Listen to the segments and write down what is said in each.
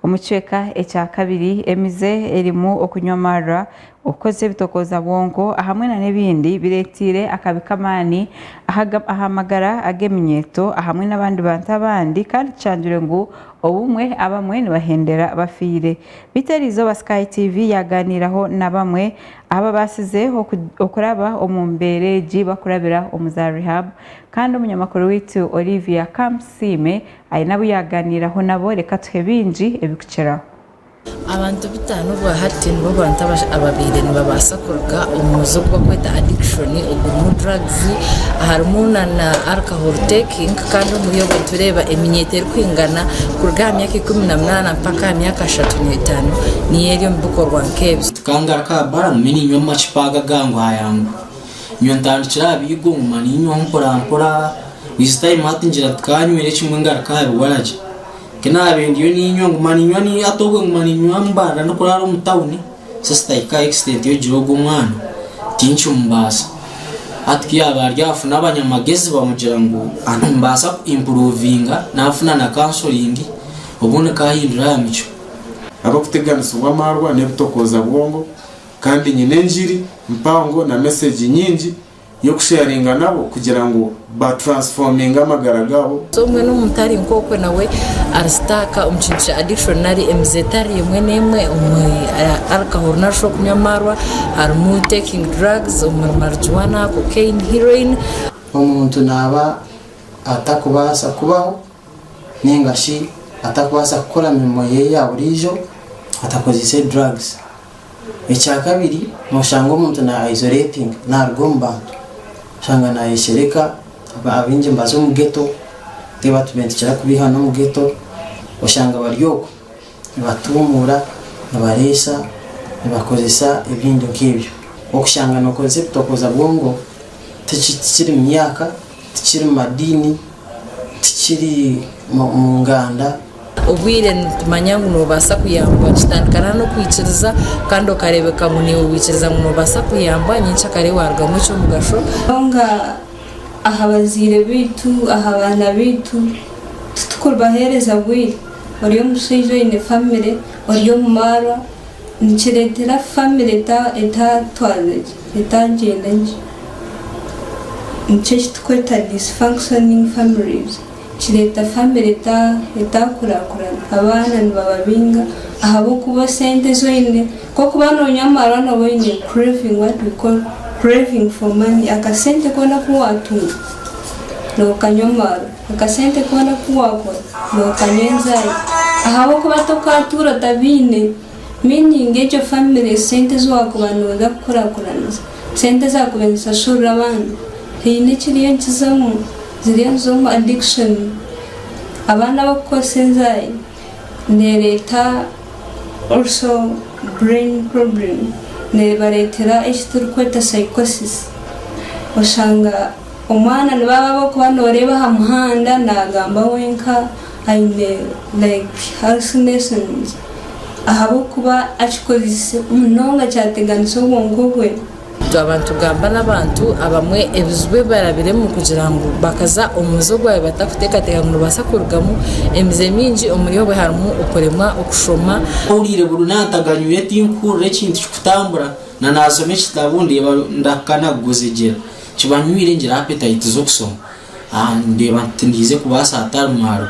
Omu kicweka ekya kabiri, emize erimu okunywa amarura, okukozesa ebitokooza bwonko, ahamwe na n'ebindi bireeteire akabi k'amaani aha magara ag'eminyeeto ahamwe n'abandi bantu abandi kandi kishangirwe ngu obumwe abamwe nibahendera bafiire. Beitu eri izooba Sky TV yaaganiiraho na bamwe ababaasize okuraba omu mbeera egi bakurabira omu za Rehab kandi omunyamakuru waitu Olivia Kamusiime Aine abu yaaganiiraho nabo? Reka tuhe baingi ebikukiraho. Abantu bataano bwa hati nibo bantu ababaire nibabaasa kuruga omu muze ogu barikweta addiction ogurimu drugs harimu na alcohol taking kandi omuri abo nitureeba eminyeeto erikwingana kuruga aha myaka ikumi na munaana mpaka aha myaka ashatu n'etaano niyo eri omu bikorwa nk'ebyo. Tukaangaruka aha baarumu niinywa amacupa aga ga ngwayangu nyowe ntandikira aha biigo nguma niinywaho mporampora each time hati ngira nti kaanywire kimwe ngaruke aha biwaragi ku naabiire ndiyo niinywa nguma niinywa ni- hati obwe nguma niinywa mbanda ndikuraara omu tawuni so sitahika extent y'okugira ogwo omwana tinkimubaasa hati ku yaaba ari afune abanyamagezi bamugira ngu ati nimbaasa ku improovinga naafuna na counselling obundi nkahindura aha micwe ahabw'okuteganisibwa amaarwa n'ebitokooza bwongo kandi nyine enjiri mpango na mesegi nyingi y'okusheyaringa nabo kugira ngu ba transfominge amagara gaabo. So mbwenu omuntu ari nk'okwe nawe ari sitaaka omu kintu kya addiction nari emize etari emwe n'emwe omuri alcohol narishi okunywa amaarwa, harimu taking drugs omuri marijuana, cocaine, heroin. Omuntu naaba atakubaasa kubaho ninga shi atakubaasa kukora mirimo yeye ya buriijo atakozeise drugs. Ekya kabiri noshanga omuntu na isolatinga naruga omu bantu oshanga nayeshereka abaingi nibaza omu ghetto tibatume nitukira kubeiha nomu ghetto oshanga bari okwe nibatumuura nibareesa nibakozesa ebindi nkebyo okushanga nokozesa ebitokoza bwongo tikiri mumyaka Tikiri mu madiini, tikiri mu nganda. Obwire nitumanya ngu noobaasa kuyambwa. Kitandikana n'okwikiriza kandi okareebeka ngu naiwe waikiriza ngu noobaasa kuyambwa, nyenkya kare waarugamu eky'omugasho. Munonga aha bazaire baitu, aha baana baitu, titurikubaheereza bwire. Ori omushaija oine famire, ori omu marwa. Nikireetera famire etatwarira gye, etagyenda gye. Nikyo eki turikweta dysfunctioning families. Kireeta famire etakurakurana. Abaana nibaba bainga ahabw'okuba esente ezi oine, nk'oku waaba nooywa amarwa nooba oine craving, what we call craving for money, akasente koona aku waatunga, nookanywa amarwa. Akasente koona aku waakora nookanywa enjari ahabw'okuba tokaatuura otabiine, meaning egyo famire esente ezi waakuba nooza kukurakuraniza, sente ezi waakuba nizishashurira abandi haine ekiriyo nikizemu, ziriyo niza omu addiction. Abaana abo kukoresa enjari neereeta also brain problem, neebareetera eki turikweta psychosis. Oshanga Omwana ni baaba ab'okuba nooreeba aha muhanda naagamba wenka aine like hallucinations ahabw'okuba akikozesa munonga kyateganisa obwonko bwe. Twaba nitugamba n'abantu abamwe ebizibu ebi barabiremu kugira ngu bakaza omu muze ogwabaire batakuteekateeka ngu nibabaasa kurugamu. Emize mingi omuri obwo harimu okuremwa okushoma. Mpuriire buri naantaganyuure tinkuhurira ekintu kikutambura na naasoma ekitabo ndeeba ndahika na kuguzigira. Kibanywire ngira appetite z'okusoma ah nindeeba nti tindiize kubaasa hatari mwaro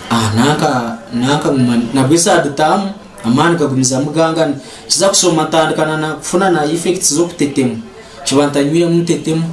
ah nanka nanka nguma nabwo esaaha dutaamu amaani gagumizamu gangana nkiza kusoma ntandika na na kufuna na effects z'okutetema nkiba ntanywiremu ntetemu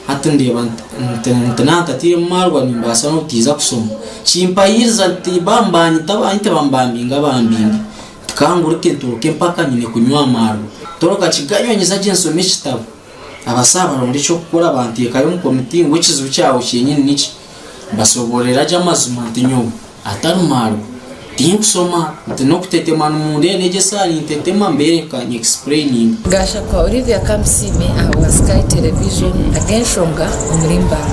hati ndeeba nti nti nti naaba ntatairemu maarwa nimbaasa n'obutaiza kusoma kimpahiiriza nti ba nibanyita abaanyu tibamubambinga bambinge nti ka nguruke nturuke mpaka nyine kunywa amaarwa toroka kiganywa nyiza gye nsome ekitabo. Abasaho barondera eky'okukora banteekayo omu komiti ngu ekizibu kyawe kyenyini niki. Mbasoborera gye amazima nti nyowe, atari maarwa, tinkusoma nti n'okutetema nimundeeba negyesa ahari ntetema mbereka nyi explaininga. Gashakwa Olivia Kamusiime aha bwa Sky Television Ag'enshonga omuri Mbale.